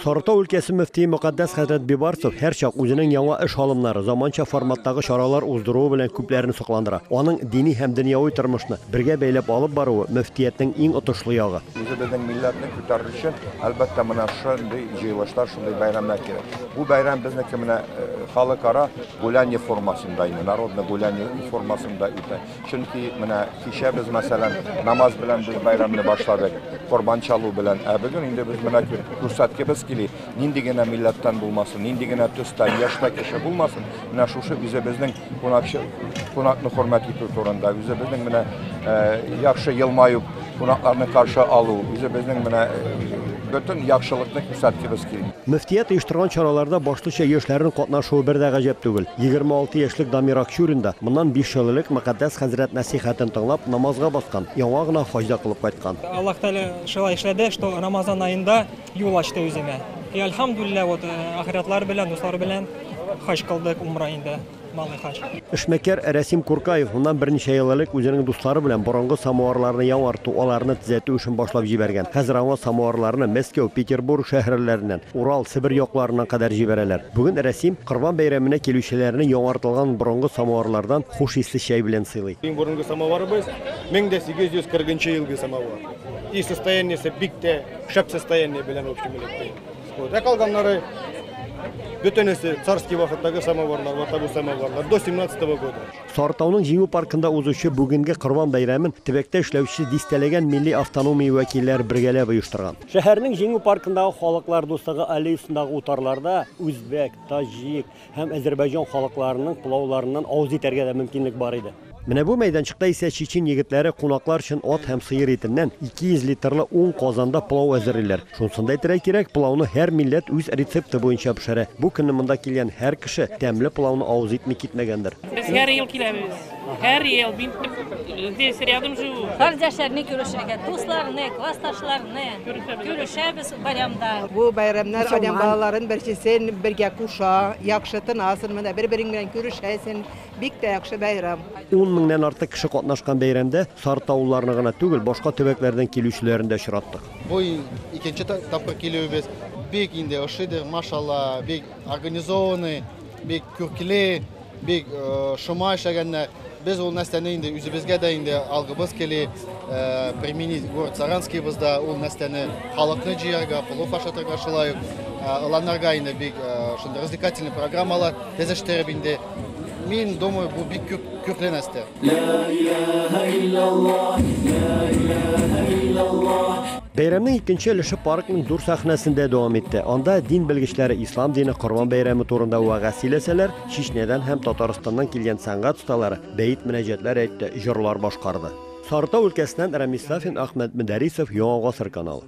Сарытау өлкәсе мөфтие Мөкатдәс хәзрәт Бибарцев һәрчак үзенең яңа эш алымнары, заманча форматтагы чаралар уздыруы белән күпләрне сокландыра. Аның дини һәм дөньяви тормышны бергә бәйләп алып баруы, мөфтиятнең иң отышлы ягы. Үзебезнең милләтне күтәрер өчен, әлбәттә, менә шундый җыелышлар, шундый бәйрәмнәр кирәк. Бу бәйрәм безнеке менә халыкара гуляние формасында, инде народный гуляние формасында үтә. Чөнки менә кичә без, мәсәлән, намаз белән без бәйрәмне башладык, корбан чалу белән. Ә бүген инде без менә күрсәткебез кили, нинди генә милләттән булмасын, нинди генә төстән, яшьтә кеше булмасын, менә шушы үзебезнең кунакчы, кунакны хөрмәт итү турында, үзебезнең менә яхшы елмаю Кунакларны каршы алу, үзе безнең менә бөтен яхшылыкны күрсәткебез килә. Мөфтият оештырган чараларда башлыча яшьләрнең катнашуы бер дә гаҗәп түгел. 26 яшьлек Дамир Акчурин да моннан биш ел элек Мөкатдәс хәзрәт нәсыйхәтен тыңлап, намазга баскан, яңа гына хаҗ да кылып кайткан. Аллаһ Тәгалә шулай эшләде, что Рамазан аенда юл ачты үземә. И альхамдуллилла, вот ахирәтләр белән, дуслар белән хаҗ кылдык, умра инде. Эшмәкәр Рәсим Куркаев моннан берничә ел элек үзенең дуслары белән борынгы самуарларны яңарту, аларны төзәтү эшен башлап җибәргән. Хәзер аңа самуарларны Мәскәү, Петербург шәһәрләреннән, Урал, Себер якларыннан кадәр җибәрәләр. Бүген Рәсим Корбан бәйрәменә килүчеләрне яңартылган борынгы самуарлардан хуш исле чәй белән сыйлый. Иң борынгы самуарыбыз, 1840 елгы самуар. И состояниесе бик тә шәп состояние белән, в общем электе. Ә калганнары бөтенесе царский вакыттагы самоварлар, ватабу самоварлар до 17 -го года. Сартауның җиңү паркында узучы бүгенге Корбан бәйрәмен төбәктә эшләүче дистәләгән милли автономия вәкилләре бергәләп оештырган. Шәһәрнең Җиңү паркындагы Халыклар дуслыгы аллеясындагы утарларда үзбәк, таҗик һәм әзербайҗан халыкларының пылауларыннан авыз итәргә дә мөмкинлек бар иде. Менә бу мәйданчыкта исә чечен егетләре кунаклар өчен ат һәм сыер итеннән 200 литрлы ун казанда пылау әзерлиләр. Шунысын да әйтергә кирәк, пылауны һәр милләт үз рецепты буенча пешерә. Бу көнне монда килгән һәр кеше тәмле пылауны авыз итми китмәгәндер. Без һәр ел киләбез. Һәр ел мин здесь рядом живу. Кардәшләрне күрешергә, дусларны, классташларны күрешәбез байрамда. Бу бәйрәмнәр адәм балаларын берсен-берсен бергә куша, яхшы тынасың, менә бер-берең белән күрешәсең, Бик тә яхшы бәйрәм. Ун меңнән артык кеше катнашкан бәйрәмдә Сар Таулыларны гына түгел, башка төбәкләрдән килүчеләрен дә очраттык. Бу икенче тапкыр килүебез. Бик инде ошыйдыр, машалла, бик организованный, бик күркле, бик шома эшләгәннәр. Без ул нәрсәне инде үзебезгә дә инде алгыбыз кили, применить город Саранскийбызда ул нәрсәне халыкны җыярга, плов ашатырга, шулай ук ыланарга инде бик шундый развлекательный программалар тезештереп инде. Мин думаю, бу бик күп күпле нәрсә. Бәйрәмнең икенче өлеше паркның дүр сәхнәсендә дәвам итте. Анда дин белгечләре ислам дине Корбан бәйрәме турында вәгазь сөйләсәләр, Чечнядан һәм Татарстаннан килгән сәнгать осталары бәет мөнәҗәтләр әйтте, җырлар башкарды. Сарытау өлкәсеннән Рамис Сафин, Ахмәт Мөдәрисов, Яңа гасыр каналы.